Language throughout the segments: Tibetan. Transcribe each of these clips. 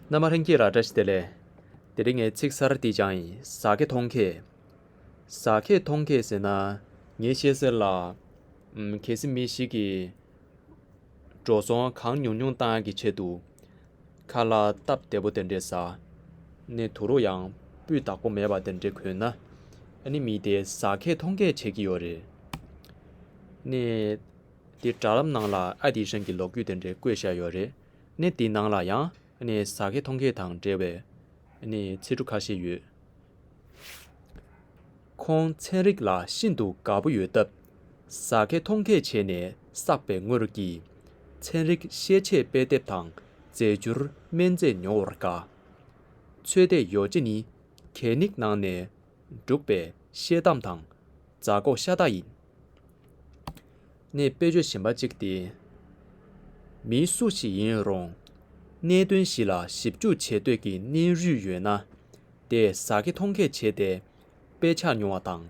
མནའ་མ་ཧྲེང་སྐྱིད་ལགས་བཀྲ་ཤིས་བདེ་ལེགས། དེ་རིང་ངས་ཚིག་གསར་འདི་སྦྱང་ཡིན་ཟ་ཁེ་མཐོང་ཁེ། ཟ་ཁེ་མཐོང་ཁེ་ཟེར་ན་ངས་ཤེས་ཟེར་ལ། གལ་སྲིད་མི་ཞིག་གིས། འགྲོ་སོང་གང་ཉུང་ཉུང་བཏང་གི་ཆེད་དུ། ཁ་ལ་སྟབས་བདེ་པོ་དེ་འདྲས་ཟ། ནས་དུ་རུ་ཡང་སྤུས་དག་པོ་མེད་པ་དེ་འདྲས་གོན་ན། ནི་མི་དེ་ཟ་ཁེ་མཐོང་ཁེ་བྱེད་ཀྱི་ཡོད་རེད། ནས། དེ་དྲ་ལམ་ནང་ལ་ཨ་དེ་ཧྲེང་གི་ལོག་གུས་དེ་འདྲས་བཀོད་བཞག་ཡོད་རེད། གནས་དེའི་ནང་ལ་ཡང་ཟ་མཁས་མཐོང་མཁས་དང་འབྲེལ་བའི་ཚེ་གྲུ་ཁ་ཤས་ཡོད། ཁོང་ཚན་རིག་ལ་ཤིན་ཏུ་དགའ་པོ་ཡོད་སྟབས་ཟ་མཁས་མཐོང་མཁས་བྱས་ནས་བསགས་པའི་དངོས་རོ་གྱིས་ཚན་རིག་ཤེས་བྱའི་དཔེ་དེབ་དང་རྫས་འགྱུར་སྨན་རྫས་ཉོ་བར་དགའ། ཚོད་ལྟའི་ཡོ་བྱད་ནི་གད་སྙིགས་ནང་ནས་བསྒྲུགས་པའི་ཤེལ་དམ་དང་རྫ་ཀོ་ཤ་སྟག་ཡིན། ནི་དཔེ་བརྗོད་གཞན་པ་གཅིག་སྟེ། མིའི་སུ་ཞིག་ཡིན་རུང། གནད་དོན་ཞིག་ལ་ཞིབ་འཇུག་བྱེད་འདོད་ཀྱི་སྣེ་རུས་ཡོད་ན། དེས་ཟ་ཁེ་འཐུང་ཁེ་བྱས་ཏེ། དཔེ་ཆ་ཉོ་བ་དང།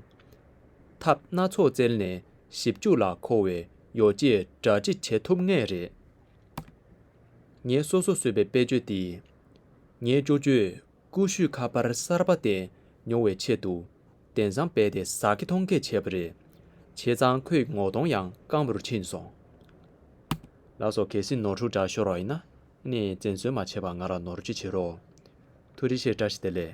ཐབས་སྣ་ཚོགས་བཙལ་ནས་ཞིབ་འཇུག་ལ་མཁོ་བའི་ཡོ་བྱད་སྒྲ་སྒྲིག་བྱེད་ཐུབ་ངེས་རེད། ངས་སོ་སོར་བཟོས་པའི་དཔེ་བརྗོད་འདིས། ངའི་ཅོ་ཅོས། ཀུ་ཤུས་ཁ་པར་གསར་པ་བསྟན་མྱོང་བའི་ཆེད་དུ། གདན་བཟང་རྦད་དེ་ཟ་ཁེ་མཐོང་ཁེ་བྱས་པ་རེད། བྱས་ཙང་ཁོས་ངོ་གདོང་ཡང་སྐམ་པོར་ཕྱིན་སོང། ལགས་སོ་གལ་སྲིད་ནོར་འཁྲུལ་འདྲ་ཤོར་བ་ཡིན་ན། ངས་བཙན་གསོལ་མ་བྱས་པར་ང་ལ་ནོར་གཅོད་བྱེད་རོགས། ཐུགས་རེ་ཆེ་བཀྲ་ཤིས་བདེ་ལེགས།